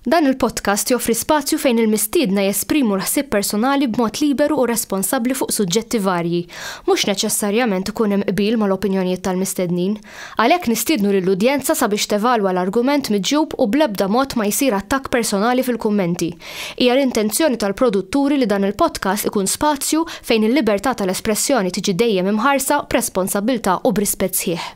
Dan il-podcast joffri spazju fejn il-mistiedna jesprimu l-ħsieb personali b'mod liberu u responsabbli fuq suġġetti varji. Mhux neċessarjament ikun hemm qbil mal-opinjonijiet tal-mistednin. Għalhekk nistiednu lill-udjenza sabiex tevalwa l-argument miġjub u bl-ebda mod ma jsir attakk personali fil-kummenti. Hija l-intenzjoni tal-produtturi li dan il-podcast ikun spazju fejn il-libertà tal-espressjoni tiġi dejjem imħarsa b'responsabbiltà u b'rispett sħiħ.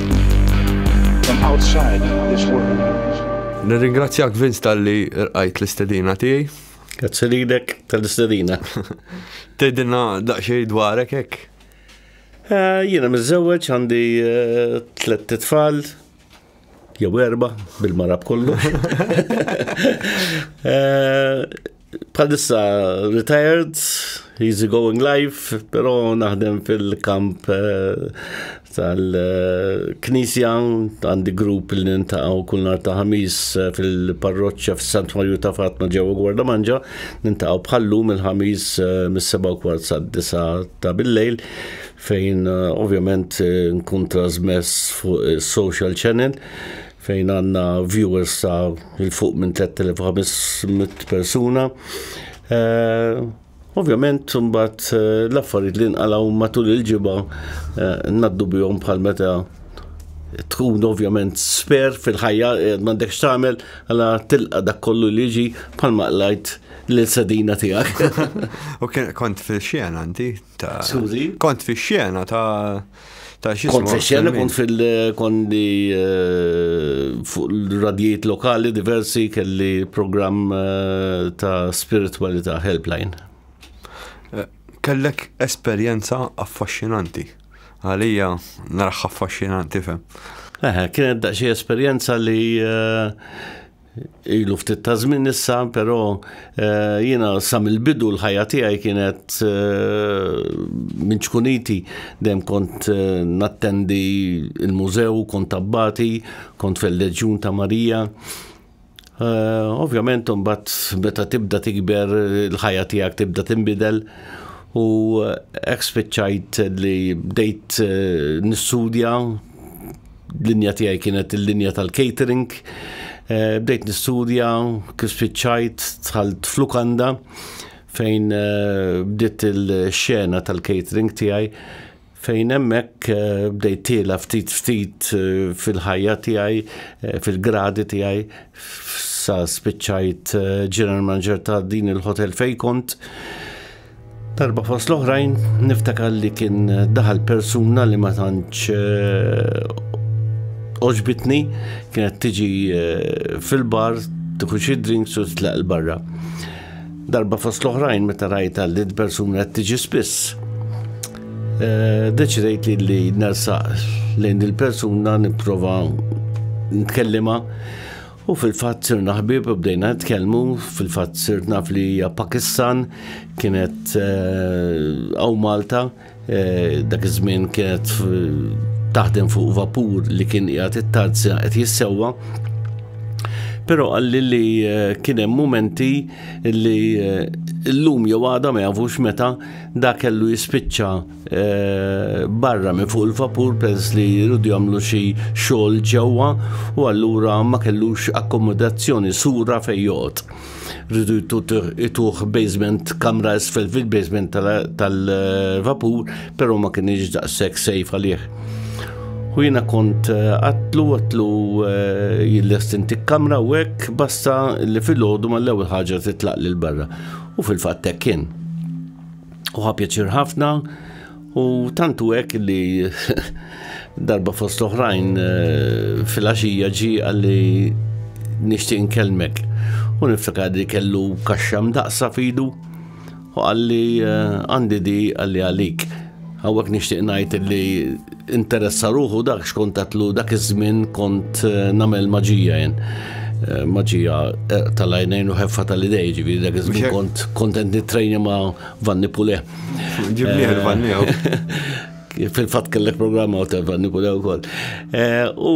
Nirringrazzjak Vince tal-li rqajt l-istedina tiegħi. Grazzi lilek tal-istedina. Tedina daqsxejn dwarek hekk. Eh, jiena miżżewweġ għandi eh, tliet titfal, jew erba bil-marab kollu. Eh, Bħalissa retired, easy going life, pero naħdem fil-kamp eh, tal-Knisja, għandi grupp li nintaqaw kull nar ta' ħamis eh, fil-parroċċa fis-Sant Marju ta' Fatma ġewwa Gwarda Manġa, nintaqaw bħallu mill-ħamis eh, mis-7 kwart sa' 9 ta' bil-lejl fejn ovvjament nkun trasmess fuq social channel fejn għandna viewers ta' il fuq minn 3500 persuna. Eh, ovvjament, mbagħad eh, l-affarijiet li nqalgħu matul il-ġibgħa eh, naddu bihom bħal meta tkun ovvjament sper fil-ħajja m'għandekx tagħmel għala tilqa' dak kollu li ġi bħal maqlajt l-sedina tiegħek. U kont fil-xena inti ta' Kont fix-xena ta' Ta' xi Kont fexxel, kont fil-kondi eh, fuq l-radjiet lokali diversi kelli programm eh, ta' spiritualita' helpline. Eh, kellek esperjenza affaxxinanti. Għalija narħ affaxxinanti fem. Eħe, kienet daqxie esperjenza li ilu ftit ta' żmien issa, però eh, jiena sa mill-bidu l-ħajja tiegħi kienet eh, minn ċkuniti dejjem kont eh, nattendi il-mużew, kont tabbati, kont fil-Leġjun ta' Marija. Ovvjament mbagħad meta tibda tikber il-ħajja tiegħek tibda tinbidel u hekk spiċċajt li bdejt nistudja l-linja tiegħi kienet il-linja tal-catering. Eh, bdejt nistudja, kif spiċċajt, tħalt flukanda fejn eh, bdiet il-xena tal-catering tiegħi fejn hemmhekk eh, bdejt tiela ftit ftit fil-ħajja tiegħi, fil-gradi tiegħi, sa spiċċajt ġeneral manager ta' din il-hotel fejn kont. Darba fost l-oħrajn niftakar li kien daħal persuna li ma tantx eh, oġbitni kienet tiġi eh, fil-bar tieħu xi drinks u tlaq il-barra. Darba fost l-oħrajn meta rajta li d-persuna qed tiġi spiss. Eh, deċidejt li li nersaq lejn il-persuna nipprova ntkellima U fil-fatt sirna ħbieb u bdejna nitkellmu, fil-fatt sirt naf li hija Pakistan, kienet għaw eh, Malta, eh, dak iż-żmien kienet taħdem fuq vapur li kien qiegħed it-tazza qed jissewwa. Però għalli li eh, kien hemm momenti li llum jew għada ma jafux meta da kellu jispiċċa barra minn fuq il-vapur peress li jridu jagħmlu xi xogħol ġewwa u allura ma kellux akkomodazzjoni sura fejn joqgħod. Rridu jtuh basement kamra isfel fil-basement tal-vapur, però ma kienx daqshekk sejf għalih. U jiena kont eh, għatlu għatlu eh, jillestinti kamra u hekk basta li fil-ħodu mal-ewwel ħaġa titlaq lil barra. U fil-fatt hekk kien. U ħapjaċir ħafna u tantu hekk li darba fost oħrajn eh, fil-għaxija ġi għalli nixtieq nkellmek. U niftakar li kellu kaxxam daqsa fidu u għalli eh, għandi di għalli għalik. Hawnhekk nixtieq ngħid li interessa ruħu dak xkont tatlu dak iż-żmien kont eh, nagħmel maġija jien. Eh, maġija eh, tal-għajnejn u ħeffa tal-idej, ġifieri dak iż-żmien kont kontent nittrejni ma' Vanni Pule. Ġibni Vanni fil-fat kellek programma u telfanni kull ukoll. U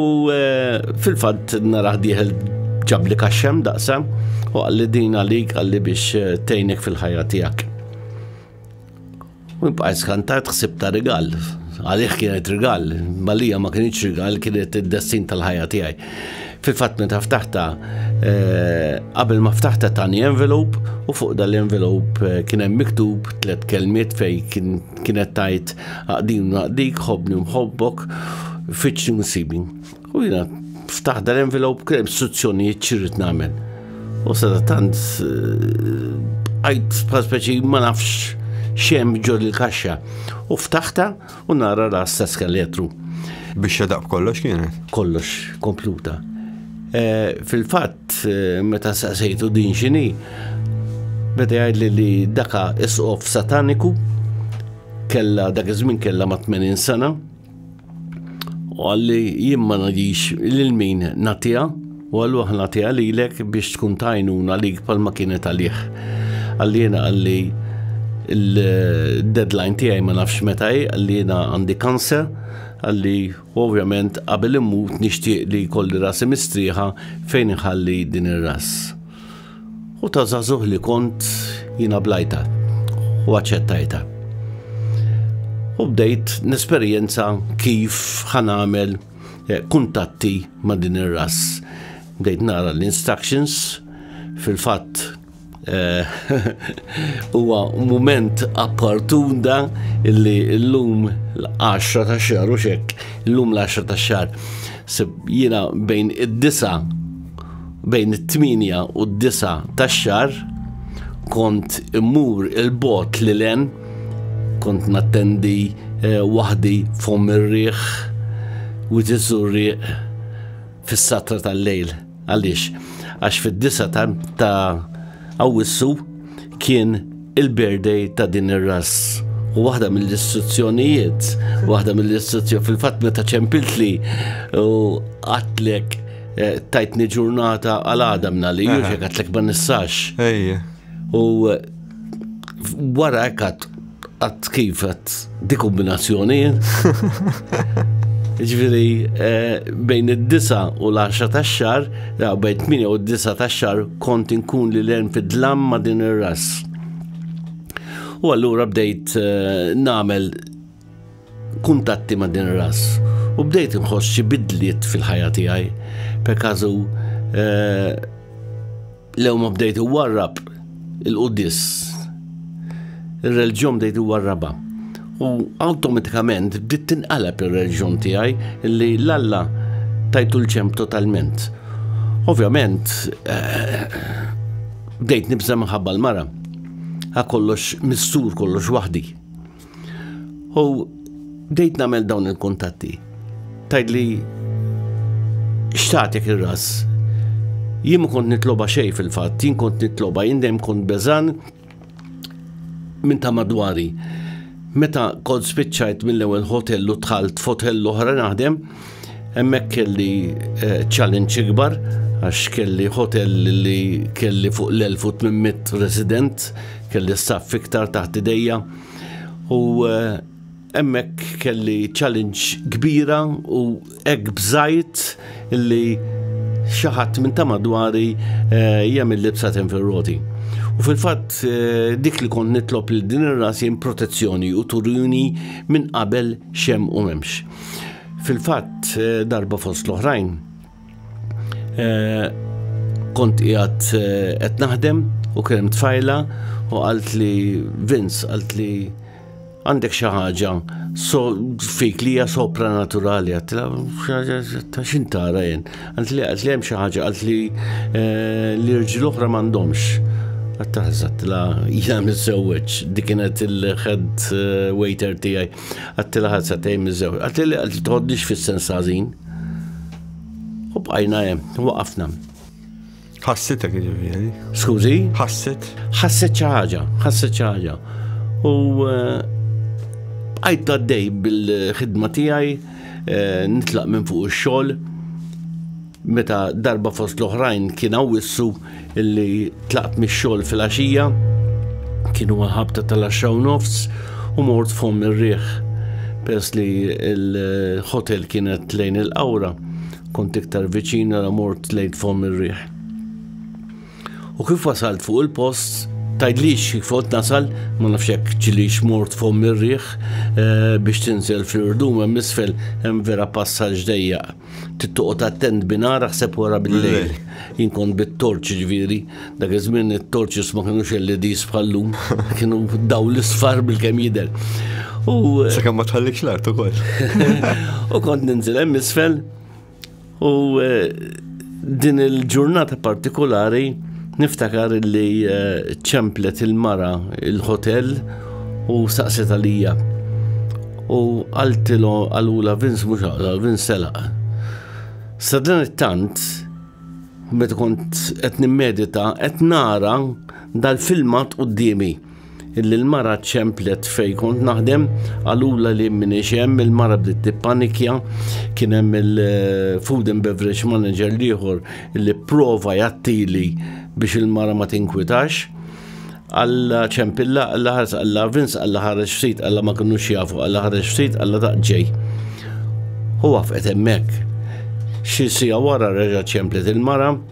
fil-fat naraħ diħel ġabli kaxxem daqsa u għalli din għalik għalli biex tejnek fil-ħajja tijak. U bqajt skantat ħsib ta' rigal. Għalih kienet rigal, malija ma kienx rigal, kienet id-destin tal-ħajja tiegħi. Fil-fatt meta ftaħta, eh, qabel ma ftaħta tani envelope u fuq dal-envelope eh, kien hemm miktub tliet kelmiet fej kienet tajt għaqdin għaqdik, ħobni mħobbok, fiċċi nsibin. U jina ftaħ dar envelop krem suzzjonijiet ċirrit namen. U sada tant għajt speċi ma nafx xem ġor il-kaxxa. U ftaħta u nara ras ta' skeletru. Biex xadaq kollox kienet? Kollox, kompluta. Eh, fil-fatt, eh, meta saqsejtu din xini, beda jgħidli li daka isqof sataniku, kella dak iż-żmien kella ma' 80 sena, U għalli jien ma nadix lil min natija, u għallu aħna tija lilek biex tkun tajnuna lik palma kienet għalih. Għalli jena għalli il-deadline tijaj ma nafx metaj, għalli jena għandi kansa, għalli ovvjament qabel immut nishtiq li kolli rasi mistriħa fejn iħalli din ir-ras. U ta' zazuh li kont jina blajta u għacċettajta. U bdejt nesperjenza kif ħanamel eh, kuntatti ma' din ir-ras. Bdejt nara l-instructions fil-fatt eh, huwa moment appartunda illi l-lum l-10 ta' xar u xek, l-lum l-10 ta' xar, jina bejn id-disa Bejn it-tmienja u d-disa tax-xahar kont immur il-bot li len, kont nattendi eh, waħdi fom ir-riħ u tiżurriq fis-satra tal-lejl. Għaliex? Għax fid-disa ta' Awwissu kien il-birthday ta' din ir-ras. U waħda mill-istruzzjonijiet, waħda mill-istruzzjoni fil-fatt meta ċempiltli u għatlek eh, tajtni ġurnata għal għadam li juġek għatlek ma nissax. U eh, wara għat għat kif għat Di kombinazzjoni. Ġviri, eh, bejn id-disa u l-10 ta' xar, bejn 8 u d-disa ta' xar, kont inkun li l-erm fid-dlam ma' din ir-ras. U allura bdejt eh, namel kuntatti ma' din ir-ras. U bdejt nħoss xi bidliet fil-ħajja tiegħi. Per kazu, eh, Lew ma bdejt iwarrab il-qudis. Ir-reġjon bdejt iwarraba. U awtomatikament bdiet tinqalab ir-reġjon tiegħi li l-Alla tajtu l-ċemp totalment. Ovvjament, eh, bdejt nibża' minħabba l-mara. Għakollox kollox missur kollox waħdi. U bdejt nagħmel dawn il-kuntatti. Tajdli xtatek ir-ras. Jien ma kont nitloba xej fil-fatt, jien kont nitloba, jien dejjem kont beżan minn ta' madwari. Meta kont spiċċajt mill-ewwel hotel u tħalt f'hotel l-oħra naħdem, hemmhekk kelli eh, challenge ikbar għax kelli hotel li kelli fuq l-1800 resident, kelli staff iktar taħt idejja. U hemmhekk eh, kelli challenge kbira u hekk bżajt li xaħat minn ta' madwari eh, jagħmel libsa tenferroti. U fil-fatt eh, dik li kont nitlob li din ir-ras jen protezzjoni u turuni minn qabel xem u memx. Fil-fatt darba fost l-oħrajn Eh, kont qiegħed eh, qed naħdem u kien tfajla u qalt li Vince qalt li għandek xi ħaġa so fik li hija sopranaturali għatla ta' x'in tara jien. Għant li għat li hemm xi ħaġa għalt li eh, li rġil oħra m'għandhomx. Għattaħżat la jina missewweċ, dikinet il-ħed waiter tijaj. Għattila ħad satejn miż-żewġ. Għattila għalti tħoddix fis-sens ħażin. U bqajna hemm, waqafna. Ħassitek ġifieri. Skużi? Ħasset. Ħasset xi ħaġa, ħasset xi ħaġa. U eh, bqajt għaddej bil-ħidma tiegħi, eh, nitlaq minn fuq ix-xogħol. Meta darba fost l-oħrajn kien għawissu illi tlaqt mix-xogħol fil-għaxija, kienu għalħabta tal-axxaw nofs u mort fom ir-riħ. Pers li l-hotel kienet lejn il-qawra, kont iktar viċin għal mort lejn fom ir-riħ. U kif wasalt fuq il-post, tajdlix kifot nasal, ma nafxek ċilix mort fom mirriħ eh, biex tinżel fil-rdum hemm isfel hemm vera passaġ dejjaq. Tittoqgħod attent binara ħseb wara bil-lejl. Jien kont bit-torċ ġifieri, dak iż-żmien it-torċis ma kinux LEDs bħallum, kienu daw l-isfar bil-kemm jidher. U eh, Sakemm ma tħallikx l-art ukoll. u kont ninżel hemm isfel u eh, Din il-ġurnata partikolari niftakar li eh, ċemplet il-mara il-hotel u saqset għalija. U għaltilu għalula Vince mux għal Vince selaq. Sadran it-tant, meta kont qed nimmedita, qed nara dal-filmat qudiemi. illi l-mara ċemplet fej kont naħdem, għalula li minni xem, il-mara bdiet tippanikja, kien hemm il-food and beverage manager liħor li prova jattili biex il-mara ma tinkwitax. Alla ċempilla, alla ħars, alla vins, alla ħareġ ftit, alla ma kienu jafu, alla ħareġ ftit, alla taqġej. U għafqet emmek. Xi sija wara reġa ċemplet il-mara,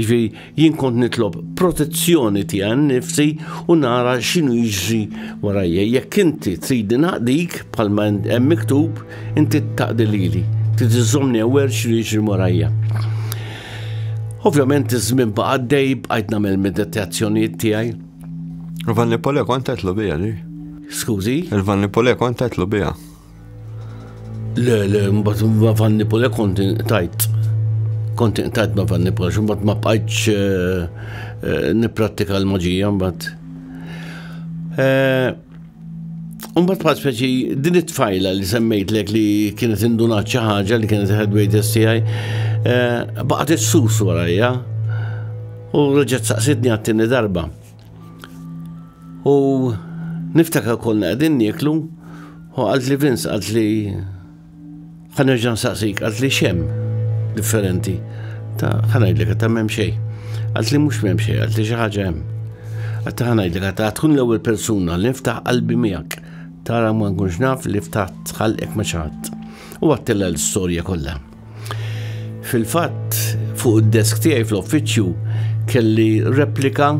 Ġvi, jien kont nitlob protezzjoni tiegħi nifsi u nara x'inhu jiġri warajja. Jekk inti trid naqdik bħalma hemm miktub, inti taqdi lili, trid iżżomni awwer x'inhu jiġri warajja. Ovvjament iż-żmien baqa' dej bqajt nagħmel meditazzjonijiet tiegħi. Vanni Pole kont qed bija li? Skużi? Il-Vanni Pole kont qed bija. Le, le, mbagħad ma Vanni Pole kont tajt. Kont tajt ma Vanni Pole, mbagħad ma bqajtx eh, eh, nipprattika l-maġija mbagħad. Eh, mbagħad bħal speċi din it-tfajla li semmejtlek li kienet indunat xi ħaġa li kienet headweight STI, baqgħet issus warajja u reġgħet saqsitni għat-tieni darba. U niftakar konna għedin nieklu, u għalt li Vince, għalt li ħanerġan saqsik, għalt li xem differenti. Ta' ħanajdlek, ta' mem xej. Għalt li mux mem xej, għalt li xaħġa jem. Għatta ħanajdlek, ta' tkun l ewel persuna li niftaħ qalbi miegħek. Tara ma nkunx naf li ftaħt ħalqek ma xaħat. U għattella l-storja kollha. Fil-fatt, fuq id-desk tiegħi fl-uffiċċju kelli replika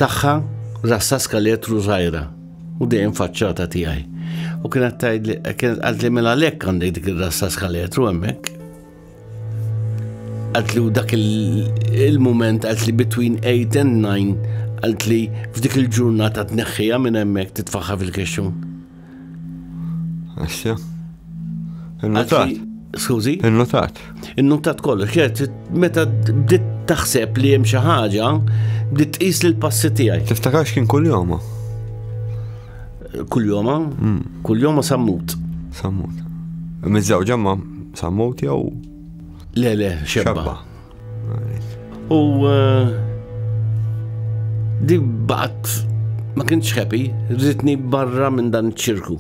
tagħha rassa skaletru żgħira u dejjem faċċata tiegħi. U kienet tgħid li kienet qalt li mela lek għandek dik ir-rassa skaletru hemmhekk. Qalt li dak il-mument qalt li between 8 and 9 qalt li f'dik il-ġurnata tneħħija minn hemmhekk titfaħħa fil-kexxun. Għaxja. Il-notat. Skużi? Il-notat. Il-notat kollu, ċert, meta bdiet taħseb li hemm xi ħaġa, bdiet tqis li l-passi tiegħi. Tiftakarx kien kull joma? Kull joma? Hmm. Kull joma sammut. Sammut. Mizzawġa ma sammut jew? Le, le, xebba. U eh, di baqt ma kienx happy, rritni barra minn dan ċirku.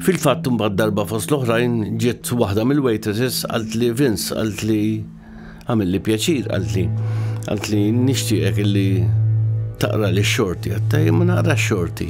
Fil-fatt mbagħad darba fost l-oħrajn ġiet waħda mill-waitresses għalt li Vince għalt li għamil li pjaċir għalt li għalt li nixtieqek illi taqra li xorti għattaj ma naqra xorti.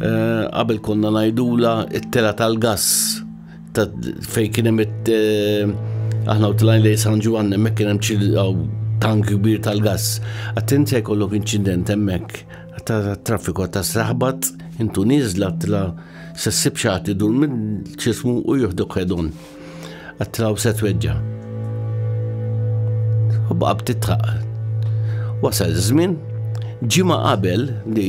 Qabel konna ngħidula it-tela tal-gass fejn kien hemm aħna u tlajn lej San Ġwan hemmhekk kien hemm tank kbir tal-gass. Attent se jkollok inċident hemmhekk ta' traffiku ta' sraħbat intu nieżla tla se ssib xagħti dur minn ċismu u joħdok ħedon. Għattraw se tweġġa. U baqa' btitħaq. Wasal żmien ġimgħa qabel li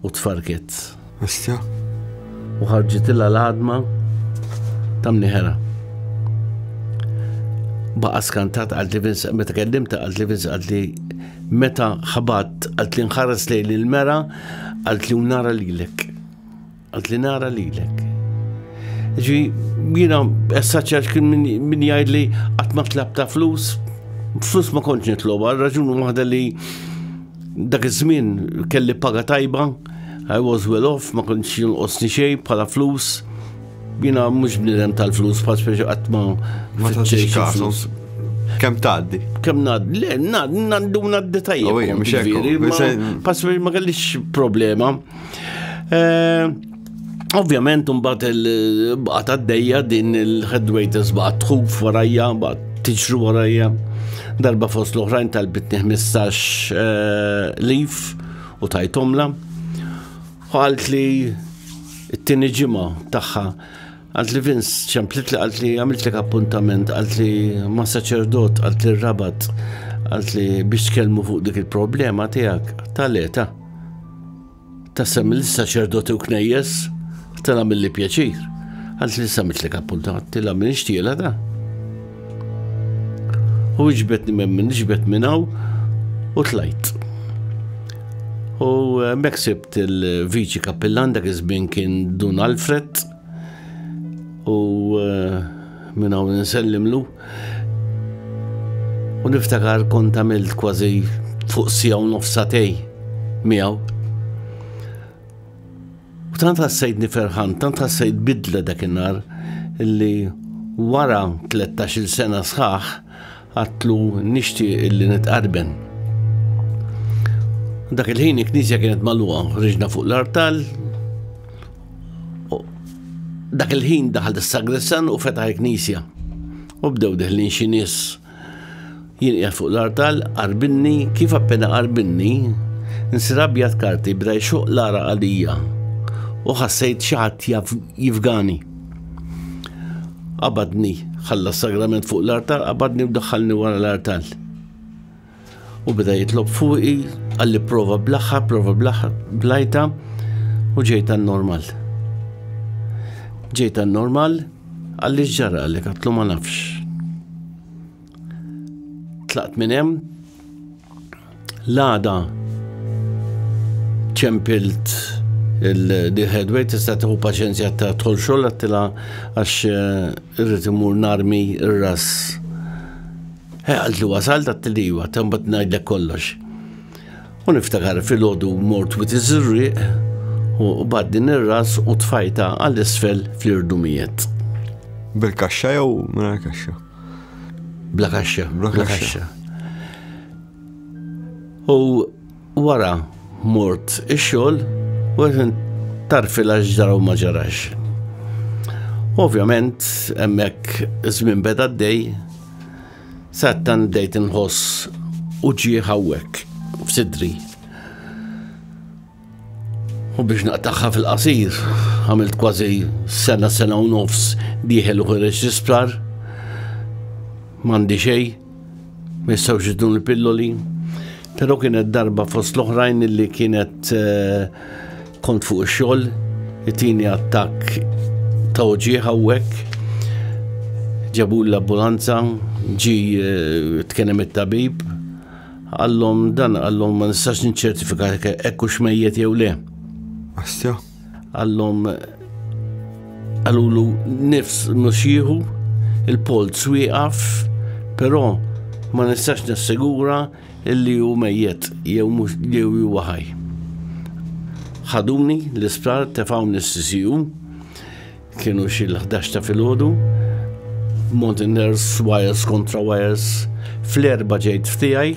U tfarket. Istja. U ħarġitilha l-għadma ta' mniħera. Baqa skantat għalt li Vince, meta kellimta għalt li Vince għalt li meta ħabat għalt li nħares lejn il-mera għalt li nara lilek. Għalt li nara lilek. Ġi, jina, essaċċaċ kien min jgħid li għatma tlab ta' flus, flus ma konċ nitloba, raġun waħda li Dak iż-żmien kelli paga tajba, I was well off, ma kontx jonqosni xejn bħala flus. Jiena mhux bniedem tal-flus, bħal speċi qatt ma tfittxejx flus. Kemm tgħaddi? Kemm ngħaddi? Le, ngħaddu ngħaddi tajjeb. Bħal speċi ma kellix problema. Eh, Ovvjament mbagħad il-baqgħet għaddejja din il-headwaiters baqgħet tħuf warajja, baqgħet tiġru warajja. Darba fost l-oħrajn tal-bitni 15 eh, lif u tajtomla. Għalt li t-tini ġimgħa tagħha għalt li Vince ċemplit li għalt li għamilt li appuntament, għalt li ma' saċerdot, għalt li rabat, għalt li biex tkellmu fuq dik il-problema tiegħek tal-eta. Tassem li saċerdoti u knejjes tela mill-li pjaċir. Għant li samitlek appuntat, tila minn ixtiela da. U iġbetni minn minn iġbet minnaw u tlajt. U eh, meksibt il-viċi kappillan dak iż-żmien kien Dun Alfred u eh, minnaw nsellimlu. U niftakar kont għamilt kważi fuq sija u nofsatej miegħu. U tant ħassejtni ferħan, tant ħassejt bidla dak in-nar illi wara 13 sena sħaħ għatlu nixti illi nitqarben. Dak il-ħin il-knisja kienet malwa, riġna fuq l-artal, Dak il-ħin daħal is-sagressan u fetaħ il-knisja. U bdew deħlin xi nies jinqiegħed fuq l-artal, qarbinni, kif appena qarbinni, nsir abjad karti bda jxuq l-ara għalija u ħassejt xi ħadd jifgani. Qabadni, ħalla sagrament fuq l-artal, qabadni u daħħalni wara l-artal. U beda jitlob fuqi, għalli prova blaħħa, prova blaħħa, blajta, u ġejta normal. Ġejta normal, għalli ġara li katlu ma nafx. Tlaqt minn hemm, l-għada ċempilt il-headway tista' tieħu paċenzja ta' tħol xogħol għattila għax eh, irrid imur narmi r-ras He għalt li wasalt għat-tliwa, ta' mbagħad ngħidlek kollox. U niftakar fil-ħodu mort wit iż-żurrieq u baddin ir-ras u tfajta għall-isfel fl-irdumijiet. Bil-kaxxa jew mingħajr kaxxa? Bla kaxxa, bla kaxxa. U Wara mort ix-xogħol u tarfilha x'ġara u ma ġarax. Ovvjament, hemmhekk żmien beda d-dej, sattan bdejt inħoss u ġie hawnhekk f'sidri. U biex naqtaħħa fil-qasir, għamilt kważi sena sena u nofs diħel u ħireġ l-isptar. Mandi xej. Ma jistgħux jidnu l-pilloli, però kienet darba fost l-oħrajn li kienet eh, kont fuq ix-xogħol, it-tieni attakk ta' uġieħ hawnhekk ġabu l-ambulanza, ġi eh, tkenem it-tabib, għallom dan għallom ma nistax nċertifika ekku xmejjet jew le. Astja? Għallhom għalulu nifs mhux jieħu il-polz wieqaf, però ma nistax nassigura illi hu mejjet jew mhux jew huwa ħaj. Ħaduni l-isptar tefawni s-CCU kienu xi l-11 ta' filgħodu, Mountain Nurse, Wires kontra Wires, fl-erba ġejt f'tiegħi,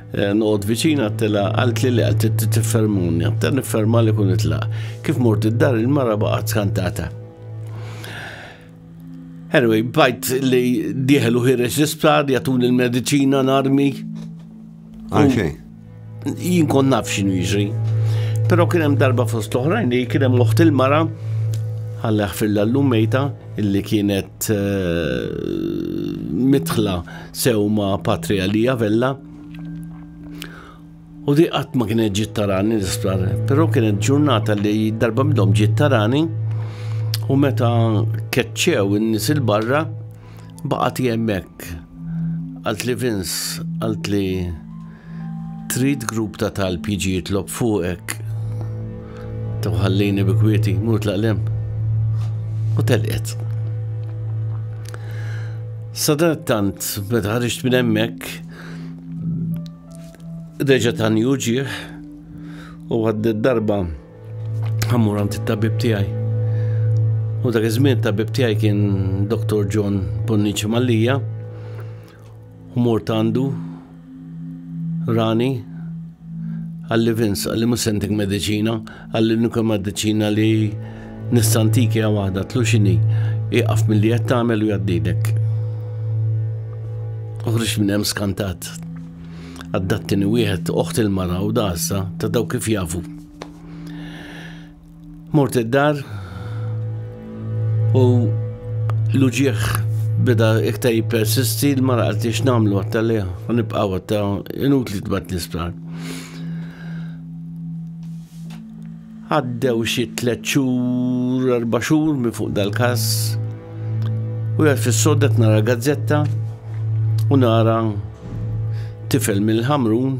Eh, noqgħod viċin għattela għalt li li għalt t-tiffermuni, għattela nifferma li kun itla. Kif mort id-dar il-mara baqgħet skantata. Anyway, bajt li diħel u ħirex l-isptar, jatun il-medicina narmi. Għanxie? Jien kon naf xinu jiġri. Pero kien hemm darba fost l-oħrajn li kien hemm oħt il-mara ħalleħ fil-lallum mejta illi kienet eh, mitħla Sew ma' patri għalija Vella. U di qatt ma kienet ġiet tarani l-isptar, però kienet ġurnata li darba midhom ġiet tarani u meta keċċew in-nies il-barra baqgħet hemmhekk. Għalt li Vince, għalt li Trid grupp ta' talb jiġi jitlob fuqek? Taw ħallini bi kwieti, mur tlaq lem. U telqet. Sadat tant, meta ħarġt minn hemmhekk, reġa' tani uġieħ u għaddet darba ħammur għand it-tabib tiegħi. U dak iż-żmien tabib tiegħi kien Dr. John Bonnici Mallija, U mort għandu rani għalli Vince għalli musentik medicina għalli nuka medicina li nistantiki għaw għada tlu xini iqaf mill-li jett għamel u jaddidek. Uħriġ minn hemm skantat. Għaddattini wieħed oħt il-mara u dasa ta' daw kif jafu. Mort id-dar u l-uġieħ bida iktar jipersisti l-mara għalti x'namlu għatta li nibqaw għatta inut li tbat l-isptar. Għaddew xi tliet xhur, erba' xhur minn fuq dal-każ u għed fis-sodet nara gazzetta u nara tifel mill-ħamrun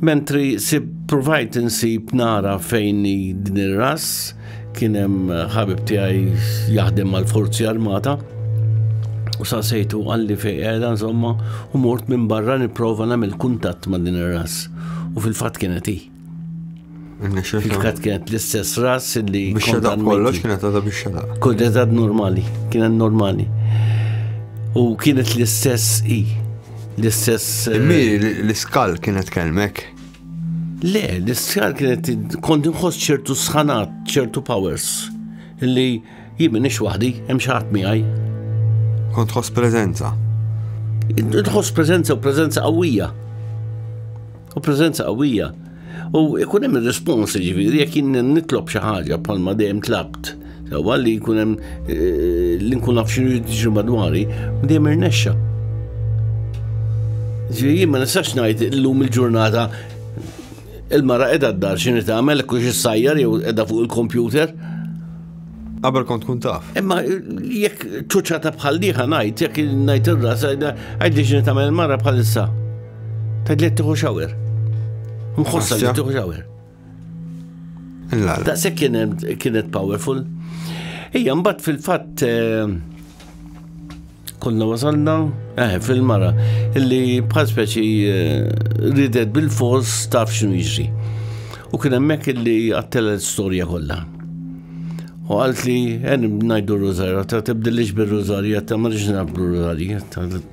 Mentri sib provajt insib nara fejn din ir-ras kien hemm ħabib tiegħi jaħdem mal-Forzi Armata u sa sejtu għalli fejn qiegħda insomma u mort minn barra nipprova nagħmel kuntatt ma' din ir-ras u fil-fatt kienet hi. Kifkat kienet l-istess ras li. Biex xedaq kollox kienet għadha biex xedaq. Kienet għad normali, kienet normali. U kienet l-istess i. L-istess. Eh, Miri, l-iskal kienet kelmek. Le, l-iskal kienet kont nħoss ċertu sħanat, ċertu powers. Li jimmin ix waħdi, hemm xi ħadd miegħi. Kont tħoss preżenza. Tħoss preżenza u preżenza qawwija. U preżenza qawwija. U ikun hemm ir-rispons ġifieri jekk jien nitlob xi ħaġa bħalma dejjem tlabt. Sewa li jkun hemm eh, li nkun naf xi jiġri madwari, dejjem irnexxa. Ġifieri jien ma nistax ngħid illum il-ġurnata il-mara qiegħda d-dar xi tagħmel kux issajjar jew qiegħda fuq il-kompjuter. Qabel kont kun taf. Imma jekk ċuċata bħal diħa ngħid, jekk ngħid ir-ras, għajdi xi tagħmel il-mara bħalissa. Tadlet tiħu xawer. Mħossa li tiħu xawer. Ta' se kienet powerful. Ija, mbatt fil-fatt eh, konna wasalna, eh, fil-mara, illi bħal speċi eh, ridet bil-fors taf xinu jiġri. U kien hemmhekk illi għattela l-istorja kollha. U għalt li għen najdu r-rużarja, ta' tibdilix bil-rużarja, ta' marriġ nabdu r-rużarja,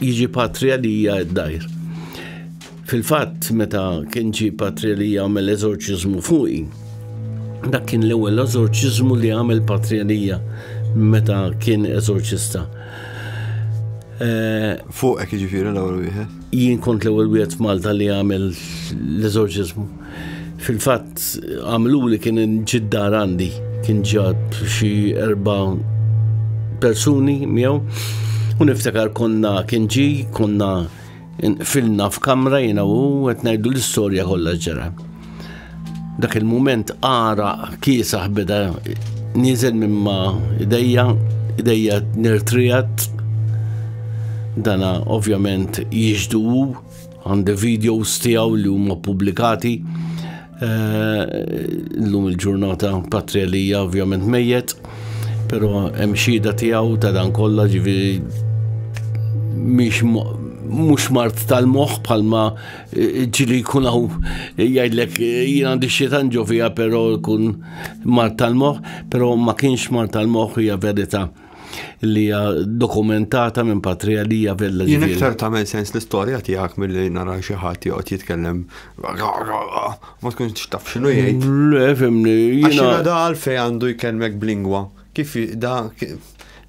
jiġi patrija li hija d-dajr. Fil-fatt, meta kien ġi patrija li jagħmel eżorċiżmu fuqi, dak kien l-ewwel eżorċiżmu li għamel patrija li hija meta kien eżorċista. Eh, Fuqek jiġifieri l-ewwel wieħed? Jien kont l-ewwel wieħed f'Malta li għamel l-eżorċiżmu. Fil-fatt għamlu li kien ġiddar għandi, kien ġab xi erba' persuni miegħu. U niftakar konna kien ġi, konna filna f'kamra jiena u qed ngħidu l-istorja kollha ġara. Dak il-mument ara kiesaħ beda nizel minn ma idejja, idejja nirtrijat. Dana ovvjament jiġdu għandi videos tiegħu li huma publikati. Eh, l-lum il-ġurnata patrija li hija ovvjament mejjet, però hemm xhieda tiegħu ta' dan kollha ġifieri mhux mart tal-moħħ bħalma ġili jkun għaw jgħidlek jien għandi xietan ġovija pero jkun mar tal-moħ, pero ma kienx mar tal-moħ hija verita li hija dokumentata minn patrija li hija vella Jien iktar tagħmel sens l-istorja tiegħek milli nara xi ħadd joqgħod jitkellem ma tkunx taf x'inhu jgħid. Le fimni. Jiena da għalfej għandu jkellmek b'lingwa Kif da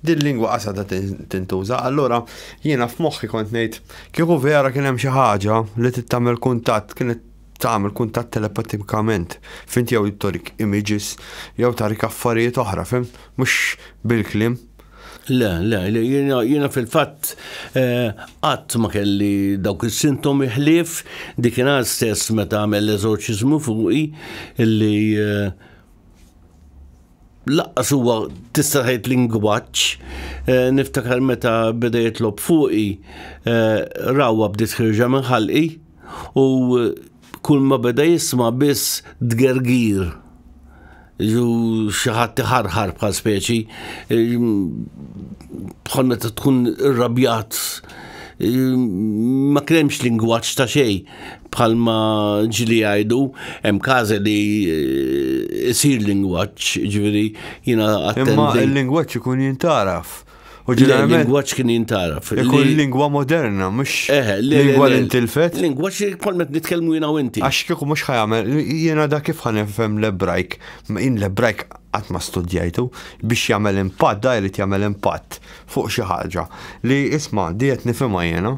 din lingwa qasada tintuża, allura jiena f'moħħi kont ngħid kieku vera kien hemm xi ħaġa li tittamel kuntatt kienet tagħmel kuntatt telepatikament, fint jew torik images jew tarik affarijiet oħra, fim, mhux bil-kliem. Le, le, le, jiena fil-fatt eh, qatt ma kelli dawk is-sintomi ħlief dik ingħal stess meta għamel l-eżorċiżmu fuqi illi eh, Laqqas huwa tista' tgħid lingwaġġ, eh, niftakar meta beda jitlob fuqi, eh, rawwa bdiet ħirġa minn ħalqi u kull ma beda jisma' biss tgergir ġu xaħat tiħarħar bħal speċi eh, bħal meta tkun irrabjat eh, ma kremx lingwaġġ ta' xej. bħalma ġili għajdu, hemm kaza li jisir eh, lingwaġġ, ġifieri jiena attendi. Imma l-lingwaġġ ikun jintaraf. U ġeneralment. Lingwaġġ kien jintaraf. Ikun lingwa moderna, mhux eh, lingwa li ntilfet. Lingwaġġ li kolmet nitkellmu jiena u inti. Għax kieku mhux ħajamel, jiena dak kif ħanifhem l-ebrajk, in l-ebrajk qatt ma studjajtu biex jagħmel impatt, da jrid jagħmel impatt fuq xi ħaġa li isma' diet nifhimha jiena.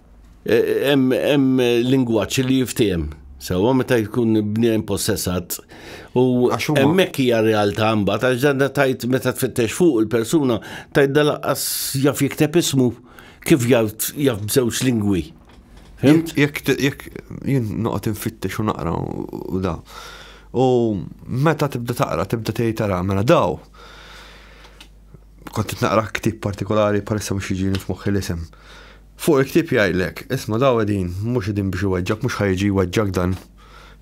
Hemm lingwaġġ li jiftiem. Sewa meta jkun bnien possessat u hemmhekk hija realtà mbagħad għax dan tajt meta tfittex fuq il-persuna tajt dalaqqas jaf jikteb ismu kif jaf b'żewġ lingwi. Jekk jekk jien noqgħod infittex u naqra u da. U meta tibda taqra, tibda tgħid tara mela daw. Kont naqra ktib partikolari parissa mhux jiġini f'moħħi l-isem. Fuq il-ktieb jgħidlek, isma' daw qegħdin, mhux qegħdin biex iweġġgħek, mhux ħa jiġi jweġġgħek dan.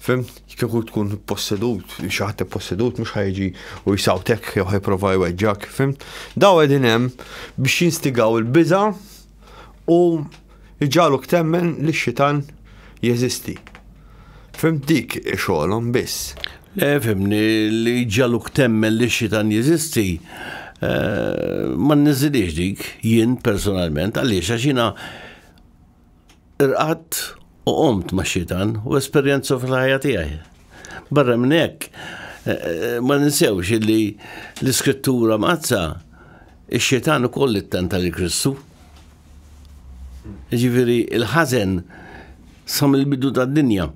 Fimt? Kieku tkun ippossedut, xi ħadd ippossedut mhux ħa jiġi u jsawtek jew ħa jipprova jweġġgħek, fimt? Daw qegħdin hemm biex jinstigaw il-biża' u jġagħluk temmen li x-xitan jeżisti. Fimt dik xogħolhom biss. Le fimni li ġaluk temmen li xitan jeżisti eh, ma nniżilix dik jien personalment għaliex għax jiena irqatt u qomt ma' xitan u esperjenza fil-ħajja tiegħi. Barra minn hekk eh, ma ninsewx li l-iskrittura mqazza ix-xitan ukoll ittenta li Kristu. Jiġifieri il-ħażen sa mill-bidu tad-dinja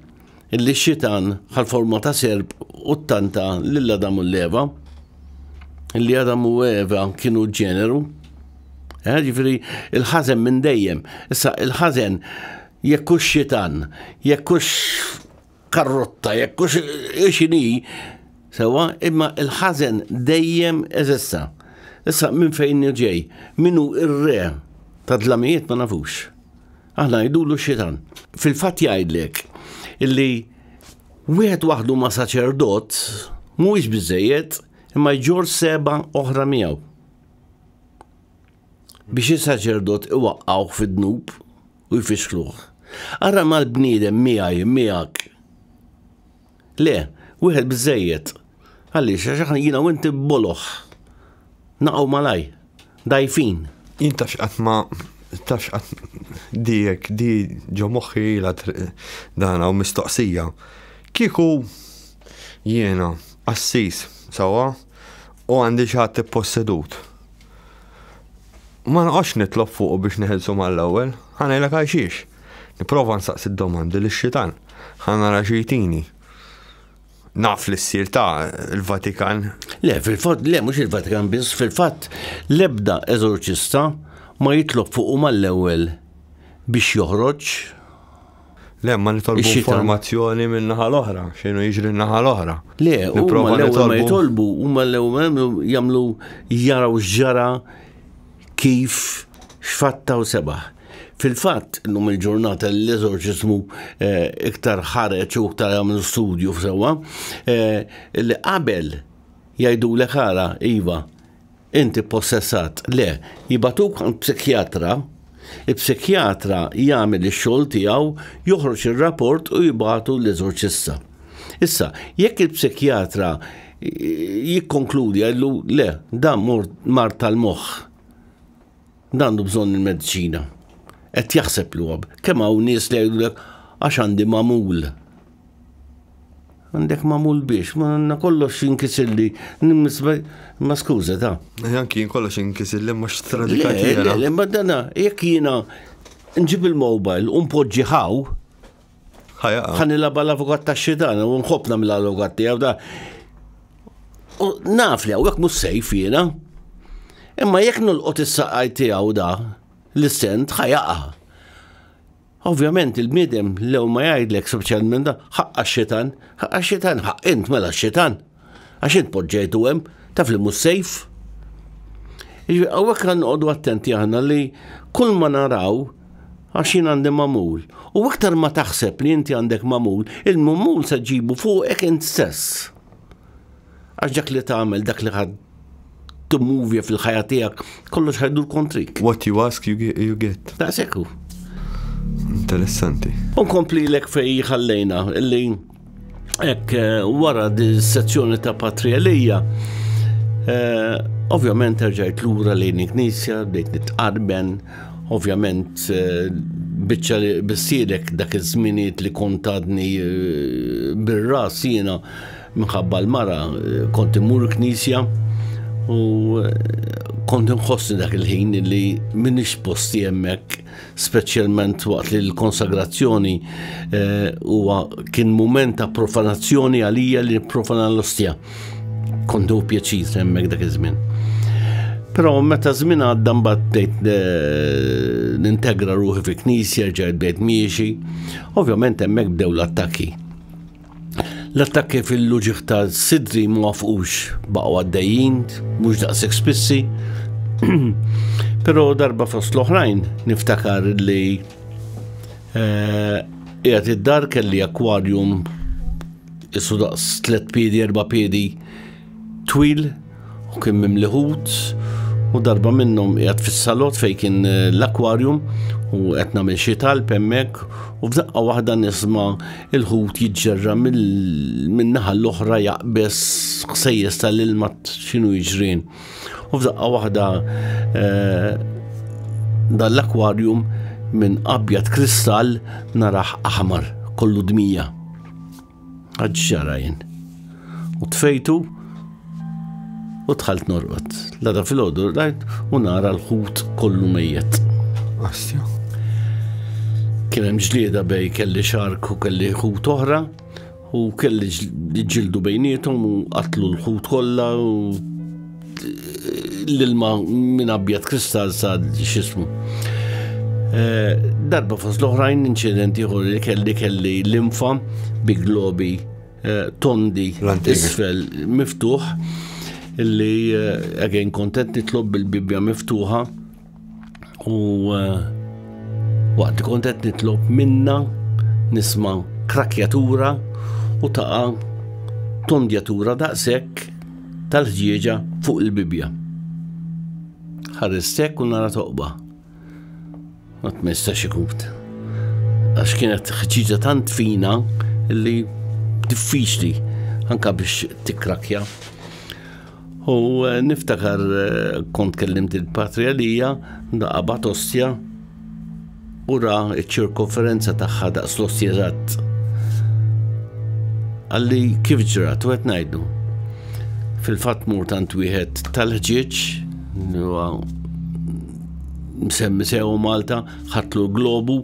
illi x-xitan ħal forma ta' serp u ttanta lil Adam u l-Eva illi Adam u Eva kienu ġeneru. Eh, ġifieri il-ħażen minn dejjem. Issa il-ħażen jekk hux xitan, jekk hux karrotta jekk hux xini sewa imma il-ħażen dejjem eżista. Issa minn fejn ġej, minnu ir-re ta' dlamijiet ma nafux. Aħna jidulu xitan. Fil-fatt jgħidlek illi wieħed waħdu ma' saċerdot mhuwiex biżejjed imma jġor seba' oħra miegħu. biex is-saċerdot iwaqqgħuh fid-dnub u jfixkluh. Ara mal-bniedem miegħi, miegħek. Le, wieħed biżejjed. Għaliex, għax aħna jiena u inti boloħ. Naqgħu malaj, dajfin. Jien tax qatt ma tax qatt dijek di ġo moħħi la dana u mistoqsija. Kieku jiena assis sawa u għandi xi ħadd possedut. Ma noqgħodx nitlob fuqu biex neħilsu mal-ewwel, ħanejlek għal xiex. Nipprova nsaqsi d-domandi li xitan ħan nara xi jtini. Naf li ssir ta' il-Vatikan. Le, fil-fatt, le, mhux il-Vatikan biss, fil-fatt l-ebda eżorċista ma jitlob fuqu mal-ewwel biex joħroġ Le, ma nitolbu Ix-xita. informazzjoni minn naħa l-oħra, xinu jiġri naħa l-oħra. Le, u Nipprova l-ewwel ma nitolbu- jitolbu, huma l-ewwel jagħmlu- jagħmlu jaraw x'ġara kif x'fatta u sebaħ. Fil-fatt, illum il-ġurnata l-eżorċiżmu eh, iktar ħareġ u iktar jagħmlu studju sewwa eh, li qabel jgħidulek ara iva Inti ppossessat. Le, jibagħtuk għand psikjatra, il-psikjatra jagħmel ix-xogħol tiegħu, joħroġ ir-rapport u jibagħtu l-eżorċista. Issa, jekk il-psikjatra jikkonkludi jgħidlu le, dan mort mard tal-moħħ. għandu bżonn il-mediċina. Qed jaħseb li huwa kemm hawn nies li jgħidulek għax għandi mamul. Għandek mamul biex, ma għandna kollox jinkisilli, ma skuża ta. Anki jien kollox jinkisilli ma xtradika jiena. Le, ma dana, jekk jiena nġib il-mobile u npoġġi ħaw, Ħan nilaba l-avukat ta' xitan, u nħobb namil l-avukat tiegħu da. U naf li għawek mus sejf jiena. Imma jekk nulqot is-saqaj tiegħu da, l-stent ħajaqa. Ovvjament il-bniedem lew ma jgħidlek speċjalment da, ħaqqa xitan, ħaqqa xitan, ħaq int mela xitan. Għax int poġġejtu hemm, taf li mhux safe. Jiġifieri hawnhekk għandna noqogħdu attenti aħna li kull ma naraw għax jien għandi mamul. U iktar ma taħseb li inti għandek mamul, il-mamul se ġibu fuqek int stess. Għax dak li tagħmel, dak li timmuvja fil-ħajja tiegħek, kollox ħajdur kontrik. What you ask you get. You get. Ta' sekku. Interessanti. Unkompli l-ek fej ħallejna, illi ek eh, wara di sezzjoni ta' patrialija, eh, ovvjament terġajt l-ura lejn knisja, bdejt nitqarben, ovvjament eh, bieċa li bissirek dak iż-żminijiet li kontadni bir-ras jiena Minħabba l-mara kont immur knisja u kont nħossni dak il-ħin li minix posti hemmhekk speċjalment waqt li l-konsagrazzjoni eh, huwa kien mument ta' profanazzjoni għalija li profana l-ostja. Kontu pjaċir hemmhekk dak iż-żmien. Però meta żmien għadda mbagħad bdejt eh, nintegra ruħi fi knisja, ġejt bdejt miexi, ovvjament hemmhekk bdew l-attakki. L-attakki fil-luġiħ ta' Sidri ma wafqux baqgħu għaddejjin, mhux daqshekk spissi. Però darba fost l-oħrajn niftakar li eh, qiegħed id-dar kelli akwarium isu daqs tliet piedi, erba' piedi Twil u kien mimli ħut u darba minnhom qiegħed fis-salott fejn kien eh, l-akwarium u qed nagħmel xi talb hemmhekk u f'daqqa waħda nisma' il-ħut jiġġerra min-naħa l-oħra jaqbes ħsejjes tal-ilma x'inhu jiġrin. U f'daqqa waħda eh, dan l-akwarium minn abjad kristall naraħ aħmar kollu dmija. Għad xara jien. U tfejtu u tħalt norqot. Lada fil-ħodu rajt u nara l-ħut kollu mejjet. Astja. Kien hemm ġlieda bej kelli xark u kelli ħut oħra u kelli ġildu bejnietom u qatlu l-ħut kollha u L-ilma minn abjad kristall sa xismu. Eh, darba fost l-oħrajn inċidenti ieħor li kelli kelli l-infa bi globi eh, tondi isfel miftuħ li għagħin eh, kontent nitlob bil-bibja miftuħa U eh, waqt kont qed nitlob minna nisma' krakjatura u taqa' tondjatura daqshekk tal-ħġieġa fuq il-Bibja. Ħarristek u nara toqba. Ma tmistax ikut. Għax kienet ħġieġa tant fina li diffiċli anka biex tikrakja. U eh, niftakar eh, kont kellimt il-patri għalija, daqqa bat ostja, u ra ċirkonferenza tagħha daqs l-ostja eżatt. Għalli kif ġrat, u qed ngħidu. Fil-fatt mur tant wieħed tal-ħġieġ, msemmi sew Malta, ħatlu globu,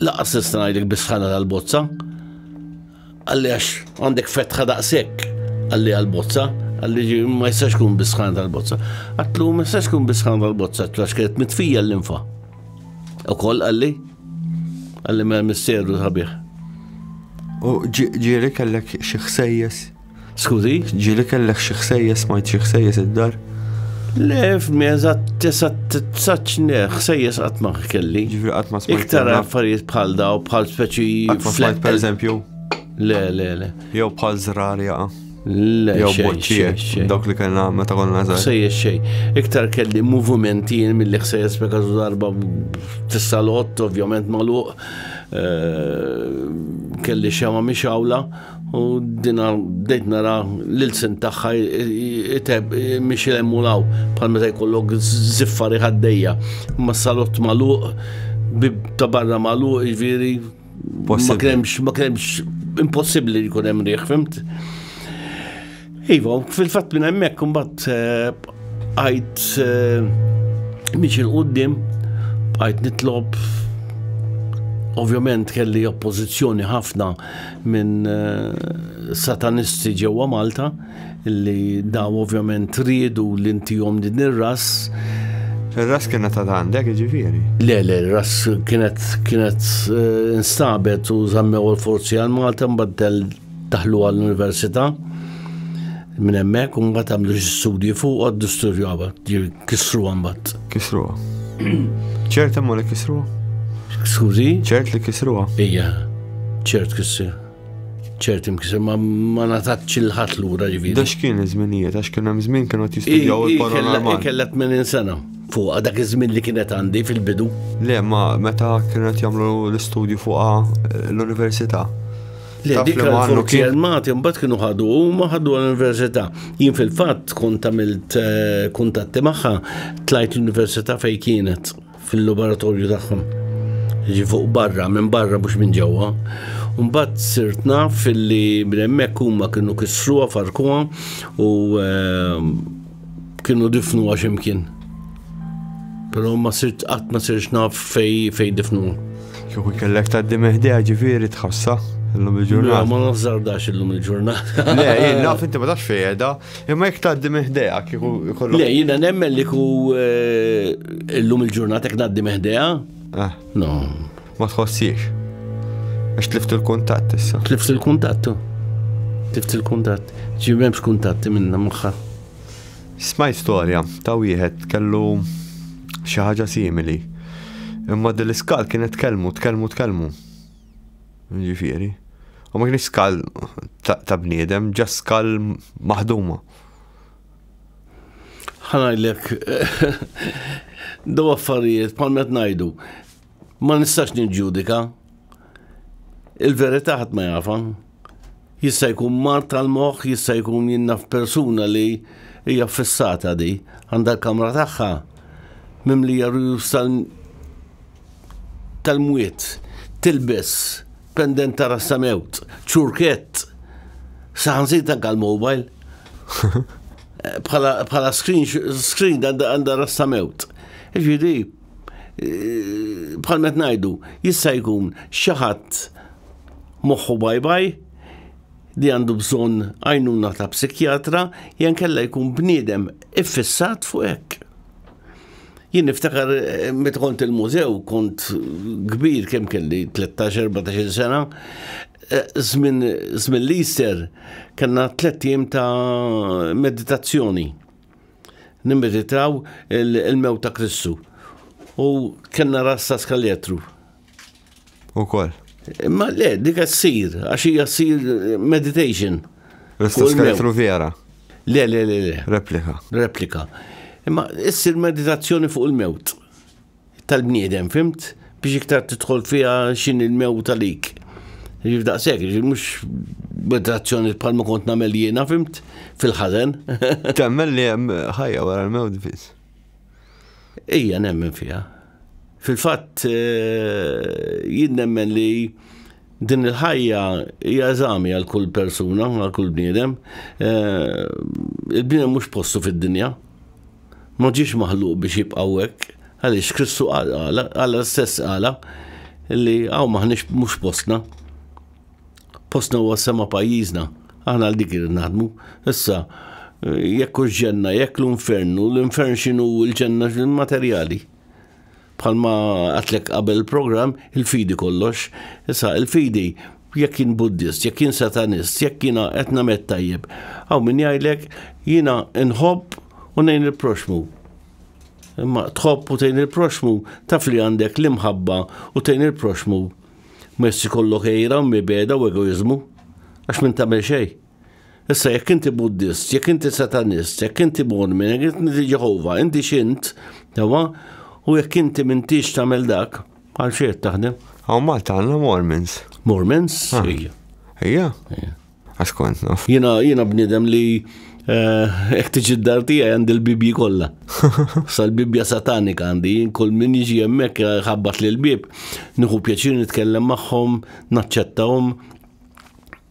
Laqas nista' ngħidlek bisħana tal-bozza. Għalli għax għandek fetħa daqshekk għalli għal-bozza, għalli ma jistax kun bisħana tal-bozza. Għatlu ma jistax kun bisħana tal-bozza, għatlu għax kienet mitfija l-infa. U koll għalli, għalli ma misteru ħabieħ. U ġiri kellek xi ħsejjes? Skużi, ġieli kellek xi ħsejjes smajt xi ħsejjes id-dar? Le, f'mi eżatt tesa' t-tsaċne, ħsejjes qatt ma kelli. Ġifri qatt ma smajt. Iktar affarijiet bħal daw, bħal speċi. Qatt ma smajt per eżempju. Le, le, le. Jew bħal zrar jaqa. Le, jew boċċie, dawk li kellna meta konna żgħar. Ħsejjes xej. Iktar kelli movimenti mill-li ħsejjes peka darba tissalott, ovvjament maluq. Eh, kelli xema miex għawla. U dina bdejt nara l-ilsen tagħha iteb miex hemm u law bħal meta jkollok ziffari ħaddejja. Ma salott magħluq, bib ta' barra magħluq, jiġifieri ma kremx, ma kremx impossibbli li jkun hemm riħ, fimt? Iva, fil-fatt minn hemmhekk imbagħad eh, għajt eh, miex il-qudiem, għajt nitlob ovvjament kelli oppożizzjoni ħafna minn eh, satanisti ġewwa Malta li daw ovvjament riedu li ntihom din ir-ras. Ir-ras kienet ta' għandek ġifieri? Le, le, ir-ras kienet kienet eh, instabet u żammew l-forzi għal Malta mbagħad Daħlu għall-università minn hemmhekk u mbagħad għamlu xi studji fuq għaddu studju għabad, kisru għambat. Kisru. ċert hemm li kisru? Skużi? ċert li kisru? Ija, ċert kisru. ċert imkisir, ma ma natatx il-ħat l-ura ġiviri. Dax kien iż-żminijiet, għax kien hemm żmien kienu jistudjaw il-paranormal. Kellet minn insena fuq dak iż-żmien li kienet għandi fil-bidu. Le, ma meta kienet jagħmlu l-istudju fuqha eh, l-università. Le, dik il-forzi armati mbagħad kienu ħadu huma ħadu l-università. Jien fil-fatt kont għamilt eh, kuntatti magħha tlajt l-università fejn kienet fil-laboratorju tagħhom. Ġi fuq barra, minn barra mhux minn ġewwa. Mbagħad sirt naf li minn hemmhekk huma kienu kisruha farkuha u eh, Kienu difnu għax imkien. Pero ma sirt qatt ma sirx naf fej fej difnu. Kieku kellek ta' dimeħdija ġifieri tħossa illum il-ġurnata. Ma nafżardax illum il-ġurnata. Le, jien naf inti ma tafx fejda, imma jek ta' dimeħdija kieku jkollu. Le, jiena nemmen li ku eh, illum il-ġurnata jek ta' dimeħdija. Eh. No, Ma tħossiex. Għax tlift il-kuntatt issa. Tlift il-kuntatt tu. Tlift il-kuntatt. Ġi m'hemmx kuntatti minna magħha. Smajt storja ta' wieħed kellu xi ħaġa simili. Imma din l-iskal kienet tkellmu, tkellmu, tkellmu. Ġifieri. U ma kienx skal ta' bniedem, ġa skal maħduma. Ħanajlek, do affarijiet, palmet najdu, Ma nistax niġġudika. Il-verità ħadd ma jafa. Jista' jkun mar tal-moħħ, jista' jkun jinnaf persuna li hija fissata di, għandha l-kamra tagħha mimlija rujus tal-mwiet, tilbes pendent ta' rassa mewt, ċurkett, saħanżit anka l-mobile. Bħala screen għandha rassa mewt. Ġiri, bħal met ngħidu jista' jkun xi ħadd moħħu baj baj li għandu bżonn għajnuna ta' psikjatra jen kella jkun bniedem iffissat fuq hekk. Jien niftakar eh, meta kont il-mużew kont kbir kemm kelli 13-14 sena żmien eh, l-Easter kellna tliet ta' meditazzjoni Nimmeditaw il-mewt ta' Kristu. U kellna rassa skaljetru. Ukoll. Ma le, dik ssir, għax hija ssir meditation. Rassa skaljetru vera. Le, le, le, le. Replika. Replika. Imma issir meditazzjoni fuq il-mewt. tal-bniedem, fimt? Biex iktar tidħol fiha xin il-mewt għalik. Ġif daqsek, ġif mux meditazzjoni bħal ma kont namel jiena, fimt? Fil-ħazen. Temmen li jem ħajja wara l-mewt biz. Ija nemmen fija. Fil-fat, eh, jien nemmen li din il-ħajja hija eżami għal kull persuna, għal kull bniedem. Eh, il-bniedem mhux postu fid-dinja. ma ġiex maħluq biex jibqa' hekk, għaliex Kristu qal qala, Alla stess qala li hawn maħniex mhux postna. Postna huwa s-sema pajjiżna, aħna għal dik irid naħdmu. Issa jekk hux ġenna, jekk l-infernu, l-infern x'inhu l-ġenna materjali. Bħalma għatlek qabel il-programm, il-fidi kollox. Issa, il-fidi jekk jien buddist, jekk jien satanist, jekk jiena qed nagħmel tajjeb. Hawn min jgħidlek jiena nħobb u ngħin il-proxmu. Imma tħobb u tgħin il-proxmu taf li għandek l-imħabba u tgħin il-proxmu. Messi kollok ejra, mibeda u egoizmu. Għax minn tagħmel xejn. Issa jekk inti Buddist, jekk inti Satanist, jekk inti Mormon, jekk inti Ġeħova, inti x'int, tawa, u jekk inti m'intix tagħmel dak, għal xejn taħdem. Hawn Malta għandna Mormons. Mormons? Ah. Ija. Ija? Għax kont naf. Jiena jiena bniedem li eh, jekk tiġi d-dar tiegħi għandi l-bibji kollha. Sal-bibja satanika għandi, kull min jiġi hemmhekk eh, ħabbat lil bib, nieħu pjaċir nitkellem magħhom, naċċettahom,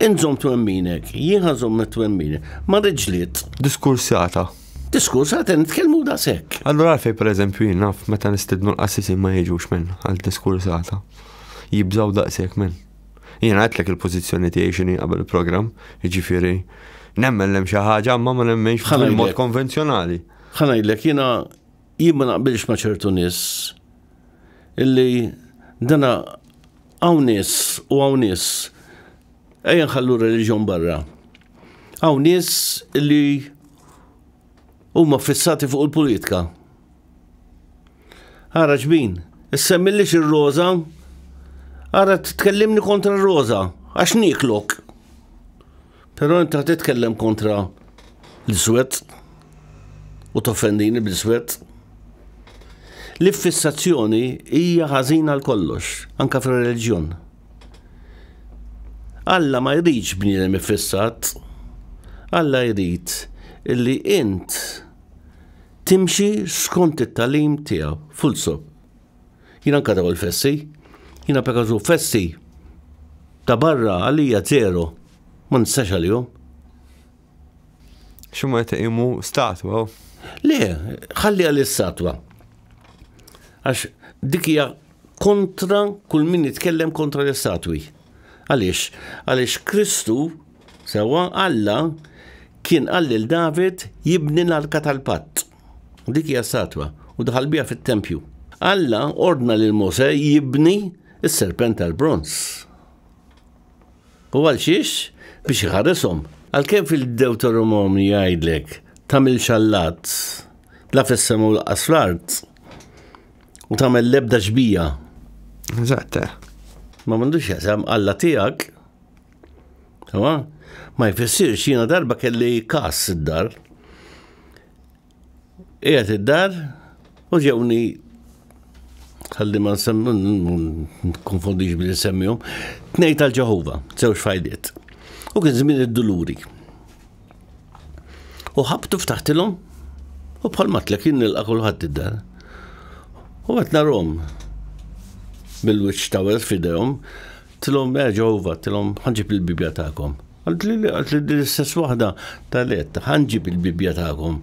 Int żomm twemminek, jien ħażomm mit-twemmini. Ma rridx ġlied. Diskursata. Diskursata nitkellmu da sekk. Allura għalfej pereżempju jien naf meta nistidnu l-qassisin ma jiġux minn għal diskursata. Jibżaw daqshekk minn. Jien għedlek il-pożizzjoni tiegħi x'inhi qabel il-programm, jiġifieri nemmen lem xi ħaġa ma ma nemmenx fil-mod konvenzjonali. Ħanajdlek jiena Jien ma naqbilx ma' ċertu nies illi dana hawn nies u hawn nies ejja nħallu r-reliġjon barra. Hawn nies illi huma fissati fuq il-politika. Ara ġbin, issemmillix ir-roża, ara tkellimni kontra r-roża, għax nieklok. Però inti ħa titkellem kontra l-iswed u toffendini bl-iswed. L-iffissazzjoni hija ħażina għal kollox, anka fir-reliġjon. Alla ma jridx bniedem iffissat. Alla jrid illi int timxi skont it-talim tiegħu, full stop. Jiena anka daw il-festi, jiena pekażu festi ta' barra għalija zero, ma nistax għalihom. Xumma jta' imu statwa? Le, ħalli għal statwa Għax dikija kontra kull min jitkellem kontra l-istatwi. Għalix, għalix Kristu, sewa Alla, kien għallil David jibni l-arka tal-patt. Dik hija statwa u daħal biha fit-tempju. Alla ordna lil Mose jibni s-serpent tal-bronz. U għal xiex? Biex iħarishom. Għalkemm fil-Dewtoronomi jgħidlek tagħmel xallat la fis-sema u laqas fl-art u tagħmel l-ebda xbija. Eżatt. Eh. Ma m'għandux jasam Alla tiegħek Ma jfissirx jiena darba kelli kas id-dar. Qiegħed id-dar u ġewni ħalli ma nkonfondix billi semmihom, tnejn tal-Ġeħova, żewġ fajliet. U kien żmien id-duluri. U ħabtu ftaħtilhom u bħal matlek jien nilqa' kulħadd id-dar. U qed narhom bil-wiċċ tawel f'idejhom, Tilhom eh, Ġehova, tilhom ħanġib il-Bibbja tagħkom. Għalt li għalt li l-istess waħda tal-et, ħanġib il-Bibbja tagħkom,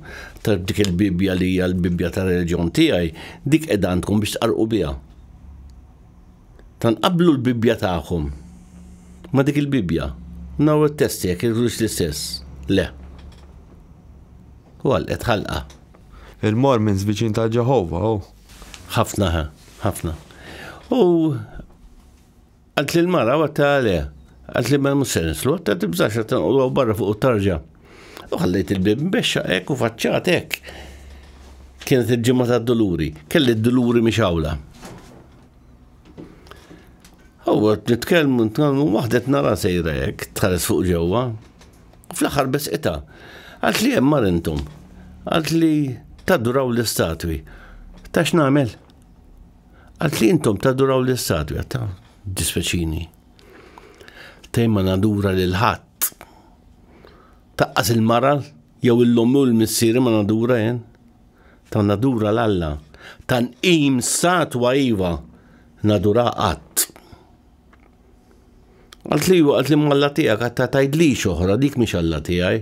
ta' dik il-Bibbja li hija l-Bibbja ta' reġjon tiegħi, dik qed għandkom biex tqarqu biha. Tanqablu l-Bibbja tagħkom ma' dik il-Bibbja. Naw it-testi jekk irrux l-istess. Le. U għal qed ħalqa. Il-Mormons viċin ta' Ġehova, oh. Ħafna, ħafna. U Għalt li l-mara għatta għale, għalt li mel musen nislu, għatta tibżax għatta nqodu barra fuq u tarġa. U ħallejt il-bib mbexxa ek u faċċat ek. Kienet il-ġimma ta' doluri, kelli d-doluri miex għawla. Għu nitkellmu nitkellmu waħdet nara sejra hekk tħares fuq ġewwa. Fl-aħħar biss ita. Għalt li hemm marintum. Għalt li taduraw l-istatwi. Tax nagħmel? Għalt li intom taduraw l-istadja ta' dispeċini. Tejma nadura lil ħadd. Taqqas il-mara jew il-lom u l-missieri ma nadura jen. Ta' nadura l-Alla. Ta' nqim statwa iva nadura qatt. Għalt li għalt li malla tiegħek għatta tajdlix oħra dik mhix Alla tiegħi.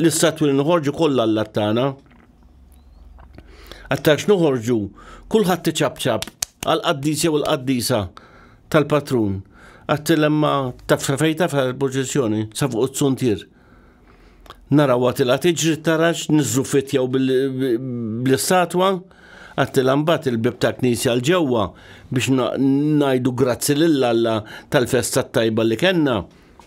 L-istatwi li noħorġu kollha għall tagħna. Għattax noħorġu kulħadd iċabċab għal qaddis jew il-qaddisa tal-patrun. Għattilemma ta' frafejta fil-proċessjoni sa fuq it-suntier. Naraw għatila tiġri tarax nizzu fitjaw bl-istatwa għattilambat il-bib ta' knisja l-ġewwa biex najdu grazzi lill-Alla tal-festa tajba li kenna.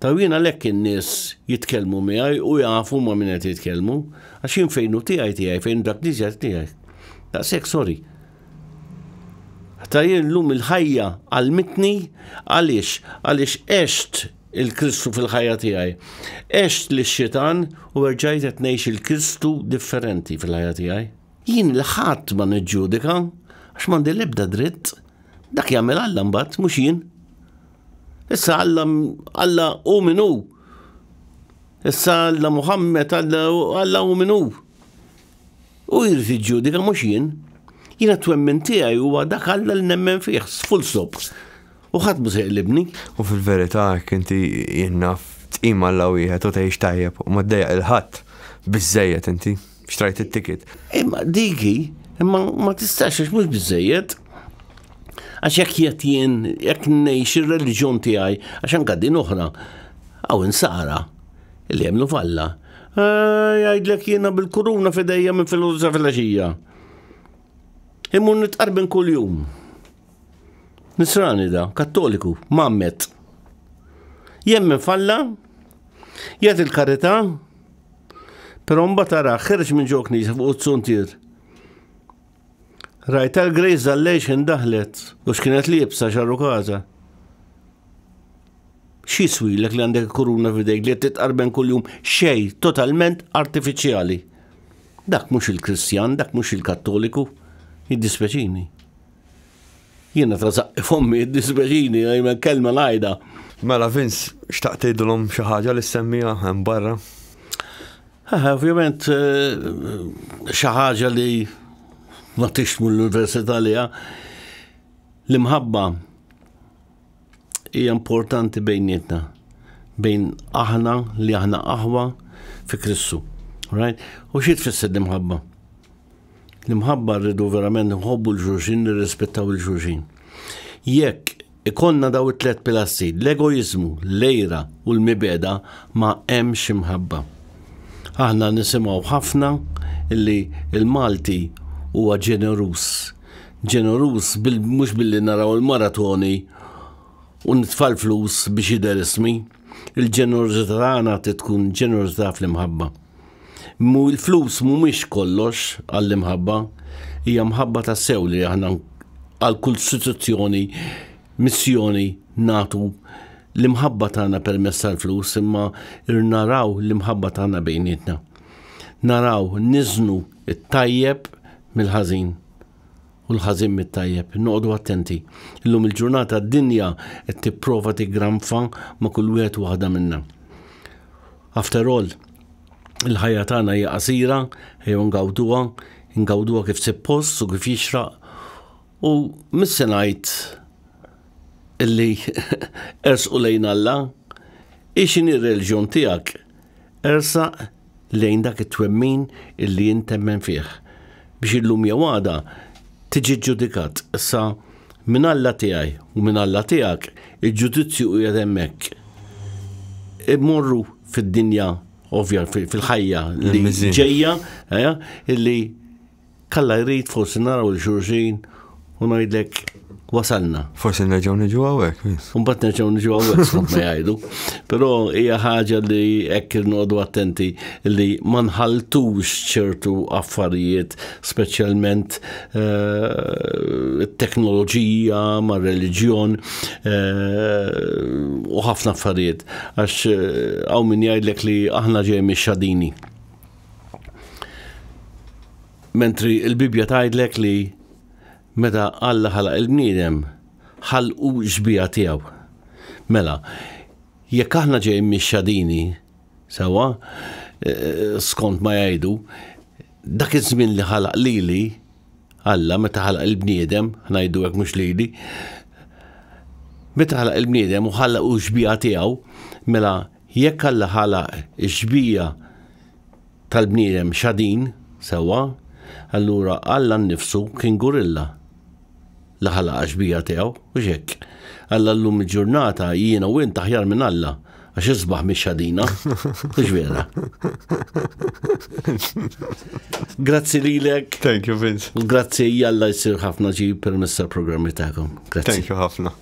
Ta' wien għalhekk in-nies jitkellmu miegħi u jafu ma' min qed jitkellmu, għax jien fejn hu tiegħi tiegħi, fejn hu dak Knisja tiegħi. Daqshekk sorry. Ta' jien llum il-ħajja għalmitni għaliex għaliex għext il-Kristu fil-ħajja tiegħi. Għext li xitan u erġajt qed ngħix il-Kristu differenti fil-ħajja tiegħi. Jien il-ħadd ma niġġudika għax m'għandi l-ebda dritt. Dak jagħmel Alla mbagħad mhux jien. Issa Alla Alla hu min hu. Issa Alla Muhammad Alla Alla hu min hu. U jrid iġġudika mhux jien. Jiena twemmin tiegħi huwa dak Alla li nemmen fih, full stop. U ħadd mhux jaqlibni. U fil-verità jekk inti jinnaf tqim Alla wieħed u tgħix tajjeb u ma ddejjaq il-ħadd biżejjed inti. Xtrajt it-ticket. Imma diki, imma ma tistax għax mhux biżejjed. Għax jekk jett jien, jekk ngħix ir-reliġjon tiegħi, għax anka din oħra, għaw insara li jemnu falla. Eh, jgħidlek jiena bil-kuruna fidejja minn filosofija. Immun nitqarbin kull-jum. Nisrani da, kattoliku, mammet. Jemmen falla, jgħat il-karita, pero mba tara ħerġ minn ġo knisja fuq t-suntir. Rajt tal-grejz dal-lejx indaħlet u x'kienet li jibsa xarru kaza. Xi swilek li għandek kuruna fidejk li titqarben kuljum xej totalment artifiċjali. Dak mhux il-Kristjan, dak mhux il-Kattoliku, jiddispeċini. Jiena trażaqqi fommi, dispjaċini, jmen kelma ngħidha. Mela Vince, xtaqt tgħidilhom xi ħaġa li semmija hemm barra? Ovvjament eh, xi ħaġa li ma tixmu l-università li l-imħabba hija importanti bejnietna bejn aħna li aħna aħwa fi Kristu. Right? U xi tfisser l-imħabba? L-imħabba rridu verament nħobbu l-ġuġin, nirrispettaw il-ġuġin. Jekk ikonna daw it-tlet pilassi, l-egoizmu, l-lejra u l-mibeda ma hemmx imħabba. Aħna nisimgħu ħafna illi il-Malti huwa ġenerus ġeneruż mhux billi naraw il-maratoni u nitfa' l-flus biex jidher ismi. Il-ġenerożità tagħna trid tkun ġenerożità fl-imħabba. Mhu l-flus mhumiex kollox għall-imħabba, hija mħabba tassew li aħna għal kull istituzzjoni, missjoni nagħtu l-imħabba tagħna permezz tal-flus imma rrid naraw l-imħabba tagħna bejnietna. naraw niżnu it-tajjeb mill-ħażin u l-ħażin mit-tajjeb. Noqogħdu attenti. Illum il-ġurnata d-dinja qed tipprova tiggranfa ma' kull wieħed waħda minna. After all, il-ħajja tagħna hija qasira, jew ngawduha, ngawduha kif suppost u kif jixraq. U mis se ngħid illi ersqu lejn Alla, ixin ir-reliġjon tiegħek Ersaq lejn dak it-twemmin illi int temmen fih, biex illum jew għada tiġi ġġudikat. Issa, minn Alla tiegħi u minn Alla tiegħek, il-ġudizzju qiegħed hemmhekk. Immorru fid-dinja, ovvja, fil-ħajja li ġejja, illi Kalla jrid forsi naraw il xurxin u ngħidlek wasalna. Forsi nerġgħu niġu hawnhekk. Mbagħad nerġgħu niġu hawnhekk skont ma jgħidu. Però hija ħaġa li hekk irnodu attenti li ma nħaltux ċertu affarijiet speċjalment eh, it-teknoloġija ma' reliġjon eh, u ħafna affarijiet għax eh, hawn min jgħidlek li aħna ġej mix-xadini. Mentri l-Bibbja tgħidlek li meta Alla ħalaq il-bniedem, ħalqu xbieha tiegħu. Mela, jekk aħna ġejjin mix-xadini, sewwa, eh, skont ma jgħidu, dak iż-żmien li ħalaq lili, Alla meta ħalaq il-bniedem, ħnajdu hekk mhux lili, meta ħalaq il-bniedem u ħallaq u xbieha tiegħu, mela Jekk Alla ħalaq ix-xbieha tal-bniedem xadin, sewwa, allura Alla nnifsu kien gurilla li ħalaq għax-xbieha tiegħu, hux hekk? Alla llum il-ġurnata, jiena u int aħjar minn Alla, għax is-sbaħ mhix xadina, hux vera? Grazzi lilek. Thank you, Vince. U grazzi Alla jsir ħafna ġid permezz tal-programmi tagħkom. Grazzi. Thank you ħafna.